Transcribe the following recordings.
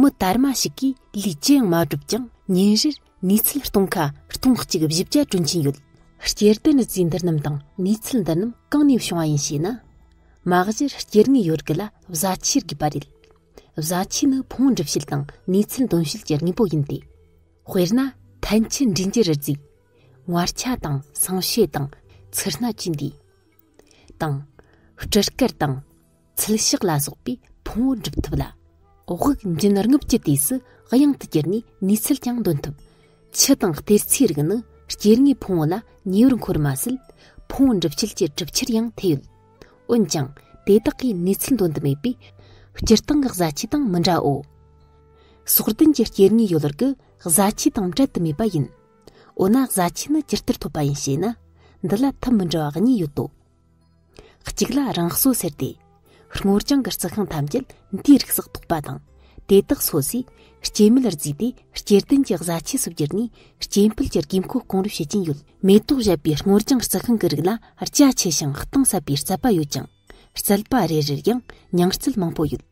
མི་དར་མ་ཞིག་གིས་ལུས་ཅི་ཡང་མ་བསྒྲུབས་ཀྱང་ཉིན་རེར་ནུས་ཚད་སྟོང་ཁ་སྟོང་གཅིག་བཞི་བརྒྱ་བསྐྲུན་གྱིན་ཡོད། སྐྱེར་ལྡན་རྫས་འདི་རྣམས་དང་ནུས་ཚད་འདི་རྣམས་གང་ནས་བྱུང་བ་ཡིན་ཞེ་ན། མ་གཞིར་སྐྱེར་དངོས་ཡོད་དགུ་ལ་བཟའ་ཆས་དགོས་པ་རེད། བཟའ་ཆས་ནི་ཕུང་བོ་འགྲུབ་བྱེད་དང་ནུས་ཚད་འདོན་བྱེད་ཀྱི་དངོས་པོ་ཡིན་ཏེ། དཔེར་ན་ཐན་ཕྱི་འབྲི་འགྱུར་རྫས། ངར་ཆ་དང་སྲང་ཕྱེ་དང་ཚུར་སྣ་བཅས་འདུས། དང། སྤྲུལ་སྐར་དང། ཚུལ་ཞག་ལ་སོགས་པའི་ཕུང་བོ་འགྲུབ་ཐུབ་ལ། དབུགས་འབྱིན་རྔུབ་ཀྱི་དུས་སུ་གཡང་དུ་གྱུར་ནས་ནུས་ཚད་ཀྱང་འདོན་ཐུབ། ཆུ་དང་གཏེར་ཚེའི་རིགས་ནི་སྐྱེ་དངོས་ཕུང་བོ་ལ་ཉེ་བར་འཁོར་མ་ཟད། ཕུང་བོ་འགྲུབ་བྱེད་ཀྱི་གྲུབ་ཆར་ཡང་ཐེ་ཡོད། འོན་ཀྱང་དེ་དག་གིས་ནུས་ཚད་འདོན་དུ་མེད་པས། སྤྱིར་བཏང་གི་བཟའ་བཅའི་དང་མི་འདྲའོ། སོགས་ལྡན་གྱི་སྐྱེ་དངོས་ཡོད་ལར་གྱི་བཟའ་བཅའི་དང་བྲལ་དུ་མེད་པ་ཡིན། འོ་ན་བཟའ་བཅའ་ནི་ཇི་ལྟར་ཐོབ་པ་ཡིན་ཞེ་ན། འདི་ལ་ཐབས་མི་འདྲ་བ་གཉིས་ཡོད་དོ། གཅིག་ལ་རང་གསོ་ཟེར་ཏེ། སྔོ་ལྗང་གི་རྩི་ཤིང་ཐམས་ཅད་འདིའི་རིགས་སུ་གཏོགས་པ་དང་དེ་དག་གསོ་ཚེ་སྐྱེ་མེད་རྫས་དེ་སྐྱེ་ལྡན་གྱི་བཟའ་ཆས་སུ་གྱུར་ནས་སྐྱེ་འཕེལ་གྱི་དགོས་མཁོ་སྐོང་རེ་བྱེད་ཀྱིན་ཡོད། མེ་ཏོག་བཞད་པའི་སྔོ་ལྗང་རྩི་ཤིང་གི་རིགས་ལ་རྒྱ་ཆེ་ཞིང་གཏིང་ཟབ་པའི་རྩལ་པ་ཡོད་ཀྱང་རྩལ་པ་རེ་རེར་ཡང་ཉིང་རྩལ་མང་པོ་ཡོད།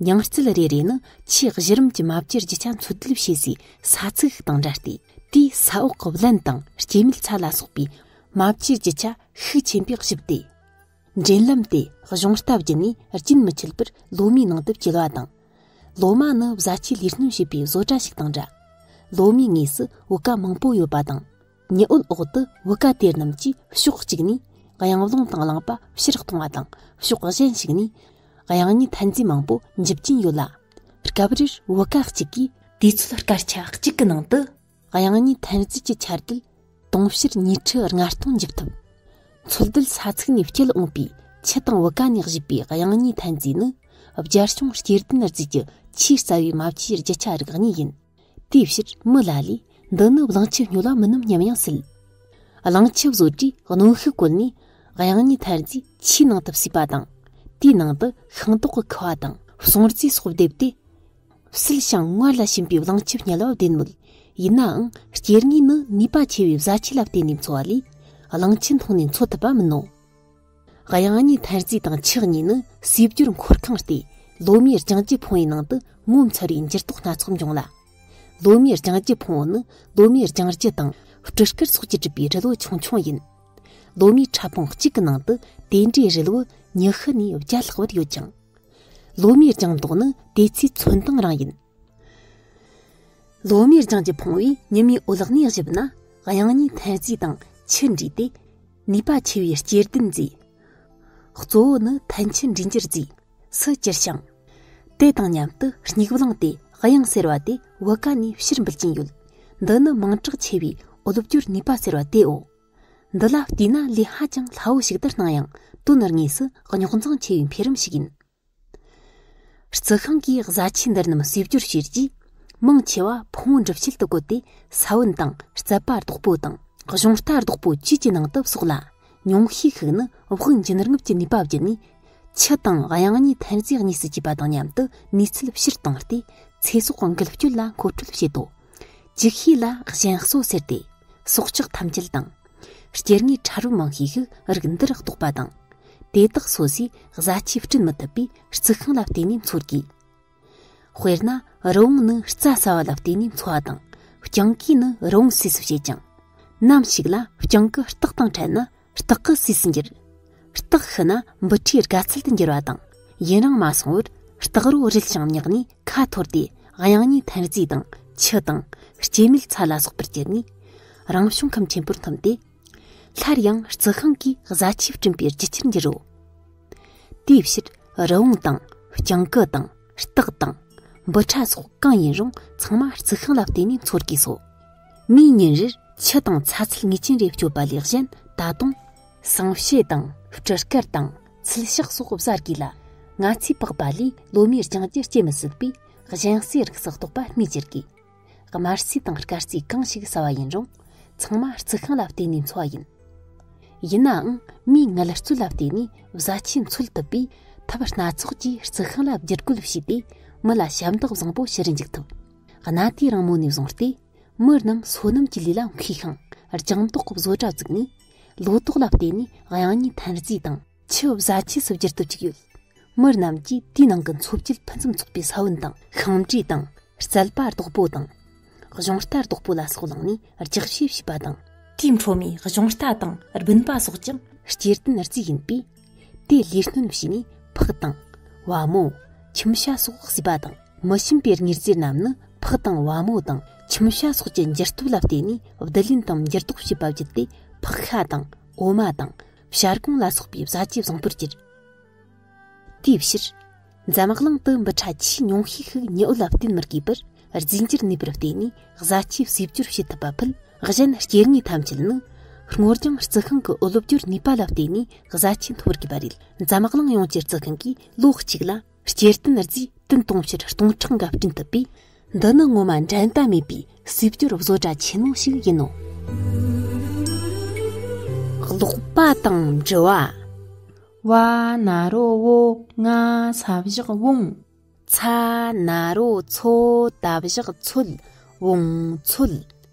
ཉིང་རྩལ་རེ་རེ་ནི་ཆེས་གཞི་རིམ་གྱི་མ་བཅོས་རྒྱུ་ཆ་འཚོལ་བསྡུ་བྱེད་སའི་ས་ཚིགས་ཤིག་དང་འདྲ་སྟེ་དེའི་ས་འོག་གི་བརླན་དང་སྐྱེ་མེད་ཚ་ལ་སོགས་པའི་མ་བཅོས་ཀྱི་ཆ་ཤུགས་ཆེན་པོས་བཞུགས་ཏེ། འབྲེལ་ལམ་དེ་གཞུང་རྟ་བརྒྱུད་ནས་རྒྱུན་མི་ཆད་པར་ལོ་མའི་ནང་དུ་བསྐྱེལ་བ་དང། ལོ་མ་ནི་བཟའ་བཅའི་ལས་སྣོན་བྱེད་པའི་བཟོ་གྲྭ་ཞིག་དང་འདྲ། ལོ་མའི་ངོས་སུ་བུ་ག་མང་པོ་ཡོད་པ་དང། ཉི་འོད་འོག་ཏུ་བུ་ག་དེ་རྣམས་ཀྱིས་ཕྱོགས་གཅིག་ནས་གཡང་ལུང་དང་གླང་པ་ཕྱིར་གཏོང་བ་དང་ཕྱོགས་གཞན་ཞིག་ནས་གཡང་གཉིས་ཐཱན་རྫས་མང་པོ་འཇིབ་ཀྱིན་ཡོད་ལ། སྐབས་རེར་བུ་ག་གཅིག་གིས། དུས་ཚོད་སྐར་ཆ་གཅིག་གི་ནང་དུ་དབྱང་གཉིས་ཐཱན་རྩིས་ཀྱི་ཆར་དུས་དུང་ཕྱུར་ཉིས་ཁྲི་ལྔ་སྟོང་འཇུག་ཐུབ། འཚོལ་སྡུད་ས་ཚིགས་ནས་སྐྱེལ་འོངས་པའི་ཆུ་དང་བུ་ག་ནས་བཞུས་པའི་དབྱང་གཉིས་ཐཱན་རྩིས་ནི་རྒྱལ་སྐྱོང་སྐྱེ་ལྡན་རྩིས་ཀྱི་ཆེས་རྩ་བའི་རྨ་ཆུའི་རྒྱུ་ཆ་རིགས་གཉིས་ཡིན། དེའི་ཕྱིར་མི་ལ་ལས་འདི་ནི་གླིང་ཆུ་ཉོ་ལ་མི་སྣུམ་སྙམ་ཡང་སྲིད། གླིང་ཆུ་བཟོ་གྲྭས་གནོན་ཤུགས་བཀོལ་ནས་དབྱང་གཉིས་ཐཱན་རྩིས་ཆུའི་ནང་དུ་བསུས་པ་དང་དེའི་ནང་དུ་ཤིང་ཏོག་གི་ཁུ་བ་དང་སྲུང་རྩི་སོགས་བསྡེབས་ཏེ། སིལ་ཞིང་སྔར་ལ་བྱིན་པའི་བརླང་སྐྱིབས་བསྙལ་བ་བདེན་མོད། ཡིན་ནའང་སྐྱེ་དངོས་ནི་ནུས་པ་ཆེ་བའི་བཟའ་ཆས་ལ་བརྟེན་ནས་འཚོ་བ་ལས། བརླང་ཆེན་མཐོང་ནས་འཚོ་ཐུབ་པ་མིན་ནོ། གཡང་སྙི་ཐར་རྩིས་དང་ཆགས་གཉིས་ནི་སྲིབ་སྦྱོར་འཁོར་ཁང་སྟེ་ལོ་མའི་རྒྱང་སྐྱི་འཕོང་བའི་ནང་དུ་ངོ་མཚར་བའི་འགྱུར་ལྡོག་སྣ་ཚོགས་འབྱུང་ལ། ལོ་མའི་རྒྱང་སྐྱི་འཕོང་བ་ནི་ལོ་མའི་རྒྱང་སྐྱི་དང་སྤྲི་དཀར་སོགས་ཀྱིས་གྲུབ་པའི་རི་ལུ་ཆུང་ཆུང་ཡིན། ལོ་མའི་ཕྲ་ཕུང་གཅིག་གི་ནང་དུ་དེ་འདྲའི་རི་ལུ་ཉི་ཤུ་ནས་བརྒྱ་ལྷག་བར་ཡོད་ཅིང། ལོ་མའི་ལྗང་མདོག་ནི་དེ་ཚོའི་མཚོན་སྟངས་རང་ཡིན། ལོ་མའི་ལྗང་གིས་ཕུང་བའི་ཉི་མའི་འོད་ལག་ནས་བཞུར་ན་དབྱང་གཉིས་ཐེངས་རྩིས་དང་ཆུ་འདྲིས་ཏེ་ནུས་པ་ཆེ་བའི་སྐྱེར་ལྡན་མཛེས། གཙོ་བོ་ནི་ཐལ་ཆུ་འདྲིས་འགྱུར་རྫས་སུ་གྱུར་ཞིང། དེ་དང་མཉམ་དུ་སྙིགས་བླངས་ཏེ་དབྱང་ཟེར་བ་དེ་བུ་ག་ནས་ཕྱིར་འབུད་ཀྱིན་ཡོད། འདི་ནི་མིང་གྲགས་ཆེ་བའི་འོད་སྐྱོར་ནུས་པ་ཟེར་བ་དེའོ། འདི་ལ་བལྟས་ན་ལས་ཧ་ཅང་སླ་བོ་ཞིག་ལྟར་སྣང་ཡང་དོན་དངོས་ངོས་སུ་རྙོག་འཛིང་ཆེ་བའི་འཕེལ་རིམ་ཞིག་ཡིན། རྩི་ཤིང་གི་བཟའ་ཆས་འདིར་རྣམས་གསོས་སྦྱོར་བྱས་རྗེས་མང་ཆེ་བ་ཕུང་བོ་འགྲུབ་བྱེད་དུ་བཀོལ་ཏེ་ས་བོན་དང་རྩི་པ་རྡོག་པོ་དང་གཞུང་རྟ་རྡོག་པོ་བཅས་ཀྱི་ནང་དུ་བསོགས་ལ་ཉུང་ཤས་ཤིག་ནི་དབུགས་འབྱིན་རྔུབ་ཀྱི་ནུས་པ་བརྒྱུད་ནས་ཆུ་དང་དབྱང་གཉིས་ཐོན་རྫས་གཉིས་སུ་གྱེས་པ་དང་མཉམ་དུ་ནུས་ཚད་ཕྱིར་བཏང་སྟེ་ཚེ་སྲོག་འགུལ་སྐྱོད་ལ་མཁོ་སྤྲོད་བྱེད་དོ། ཅིག་ཤོས་ལ་གཞན་གསོ་ཟེར་ཏེ་སྲོག་ཆགས་ཐམས་ཅད་དང། སྐྱེ་དངོས་ཕྲ་རབ་མང་ཤོས་ཤིག་རིགས་འདིར་གཏོགས་པ་དང། དེ་དག་སོ་སོའི་བཟའ་ཆས་སྐྲུན་མི་ཐུབ་པའི་རྩི་ཤིང་ལ་བརྟེན་ནས་འཚོ་དགོས། དཔེར་ན་རི་བོང་ནི་རྩྭ་ཟ་བ་ལ་བརྟེན་ནས་འཚོ་བ་དང། རྐྱང་གུས་ནི་རི་བོང་ཟས་སུ་བྱེད་ཅིང། ནམ་ཞིག་ལ་རྐྱང་གུ་སྟག་དང་ཕྲད་ན་རྟགས་ཀྱི་སུས་སུ་འགྱུར། རྟགས་ཤི་ན་འབུ་ཕྲའི་དགའ་ཚལ་དུ་འགྱུར་བ་དང། ཡུན་རིང་མ་སོང་བར་རྟགས་རོ་རིལ་ཞིང་མྱགས་ནས་ཁ་འཐོར་ཏེ་དབྱངས་གཉིས་ཐན་རྫས་དང་ཆུ་དང་སྐྱེ་མེད་ཚ་ལ་སོགས་པར་གྱུར་ནས་རང་བྱུང་ཁམས་ཆེན་པོར་འཐོམས་ཏེ། སླར་ཡང་རྩི་ཤིང་གི་བཟའ་ཆས་བསྐྲུན་པའི་རྒྱུ་ཆར་འགྱུར་རོ། དེའི་ཕྱིར་རི་བོང་དང་སྤྱང་ཀི་དང། སྟག་དང། འབུ་ཕྲ་སོགས་གང་ཡིན་རུང་ཚང་མ་རྩི་ཤིང་ལ་བརྟེན་ནས་འཚོ་དགོས་སོ། མིའི་ཉིན་རེར་ཆུ་དང་ཚྭ་ཚུལ་ངེས་ཅན་རེ་སྤྱོད་པ་ལས་གཞན་ད་དུང། ཟངས་ཕྱེ་དང་སྤྲི་དཀར་དང་ཚུལ་ཤག་སོགས་བཟའ་དགོས་ལ། ང་ཚོས་པགས་པ་ལས་ལོ་མའི་རྐྱང་རྒྱུད་སྐྱེ་མི་སྲིད་པས་གཞན་སའི་རིགས་སུ་གཏོགས་པ་སྨོས་ཅི་དགོས། དམར་རྩིས་དང་དཀར་རྩིས་གང་ཞིག་ཟ་བ་ཡིན་རུང་ཚང་མ་རྩི་ཤིང་ལ་བརྟེན་ནས་འཚོ་བ་ཡིན། ཡིན་ནའང་མིའི་མངལ་རྩོལ་ལ་བརྟེན་ནས་བཟའ་ཆས་འཚོལ་ཐུབ་པས་ཐབས་སྣ་ཚོགས་ཀྱིས་རྩི་ཤིང་ལ་བསྒྱུར་བཀོད་བྱས་ཏེ་མི་ལ་ཞབས་འདེགས་བཟང་པོ་ཕྱིར་འཇུག་ཐུབ། གནའ་དུས་རིང་མོ་ནས་བཟུང་སྟེ་མི་རྣམས་སོ་ནམ་གྱི་ལུས་ལ་མཁས་ཤིང་རྒྱང་ཐོག་གི་བཟོ་གྲྭ་བཙུགས་ནས་ལོ་ཏོག་ལ་བརྟེན་ནས་དབྱང་གཉིས་ཐཱན་རྩིས་དང། ཆུ་བཟའ་ཆས་སུ་བསྒྱུར་ཐུབ་ཅིག་ཡོད། མི་རྣམས་ཀྱིས་དེའི་ནང་གི་འཚོ་བཅུད་ཕུན་སུམ་ཚོགས་པའི་ས་བོན་དང་ཤིང་འབྲས་དང་རྩལ་པ་རྡོག་པོ་དང། གཞུང་རྟ་རྡོག་པོ་ལ་སོགས་བླངས་ནས་རྒྱག་ཤེས་བྱས་པ་དང། དེའི་འཕྲོ་མའི་གཞུང་རྟ་དང་སྦུན་པ་སོགས་ཀྱང། སྐྱེར་ལྡན་རྫས་ཡིན་པས། དེ་ལས་སྣོན་བྱས་ནས་ཕག་དང། བ་མོ། ཁྱིམ་བྱ་སོགས་བཟོས་པ་དང་མི་ཞིམ་པའི་མྱུར་རྫས་རྣམས་ནི་ཕག་དང་བ་མོ་དང་ཁྱིམ་བྱ་སོགས་ཀྱི་འགྱུར་སྟོབས་ལ་བརྟེན་ནས་བསྡུ་ལེན་དང་འགྱུར་ལྡོག་བྱེད་པ་བརྒྱུད་དེ་ཕག་ཤ་དང་འོ་མ་དང། བྱ་རྐང་ལ་སོགས་པའི་བཟའ་བཅའི་བཟང་པོར་གྱུར། དེའི་ཕྱིར། འཛམ་གླིང་དུ་འབུ་ཕྲ་ཆེས་ཉུང་ཤས་ཤིག་ཉི་འོད་ལ་བརྟེན་མི་དགོས་པར་རྫས་འགྱུར་ནུས་པར་བརྟེན་ནས་བཟའ་བཅའི་གསེབ་སྦྱོར་བྱེད་ཐུབ་པ་ཕུད། གཞན་སྐྱེ་དངོས་ཐམས་ཅད་ནི། སྔོ་ལྗང་རྩི་ཤིང་གི་གློ་བསྒྱུར་ནུས་པ་ལ་བརྟེན་ནས་བཟའ་བཅའི་འཐོར་དགོས་པ་རེད། འཛམ་གླིང་ཡོངས་ཀྱི་རྩི་ཤིང་གིས་ལོ་གཅིག་ལ། སྐྱེར་རྟེན་རྫས་བསྟུན་གཏོང་ཕྱིར་སྟོང་ཕྲག་འགའ་བསྐྲུན་ཐུབ་པས་འདི་ནི་ངོ་མ་འགྲན་ཟླ་མེད་པའི་སྲིད་སྐྱོར་བཟོ་གྲྭ་ཆེན་མོ་ཞིག་ཡིན་ནོ། ཀློག་པ་དང་འབྲི་བ། བ་ན་རོ་བོ་ང་ས་བཞག་བོང། ཚ་ན་རོ་མཚོ་ད་བཞག་མཚོད་བོང་མཚོད།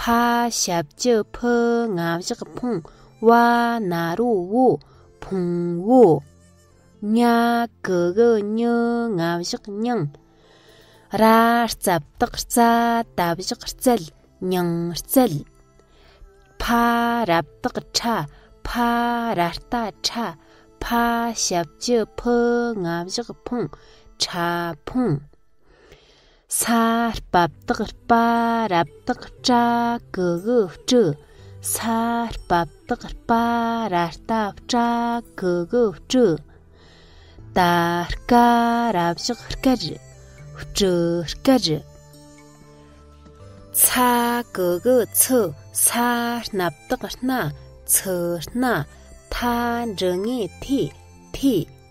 ཕ་ཞབས་ཀྱི་ཕུ་ང་བཞག་ཕུང་བ་ན་རོ་བོ་ཕུང་བོ། ཉ་གི་གི་ཉི་ང་བཞག་ཉིང། ར་རྩབ་དག་རྩ་ད་བཞག་རྩལ་ཉིང་རྩལ། ཕ་རབ་དག་ཕྲ་ཕ་ར་རྟ་ཕྲ་ཕ་ཞབས་ཀྱི་ཕུ་ང་བཞག་ཕུང་ཕྲ་ཕུང། ས་བབས་དག་པ་རབ་དག་བཀྲ་གུ་གུ་བཀྲུ། ས་བབས་དག་པ་ར་ལྟ་བཀྲ་གུ་གུ་བཀྲུ། ད་ཀ་ར་བཞག་བཀར་བཀྲུ་བཀར། ཚ་གུ་གུ་ཚུ་ས་སྣབས་དག་སྣ་ཚུ་སྣ། ཐ་འབྲུ་ངེས་ཐི་ཐི།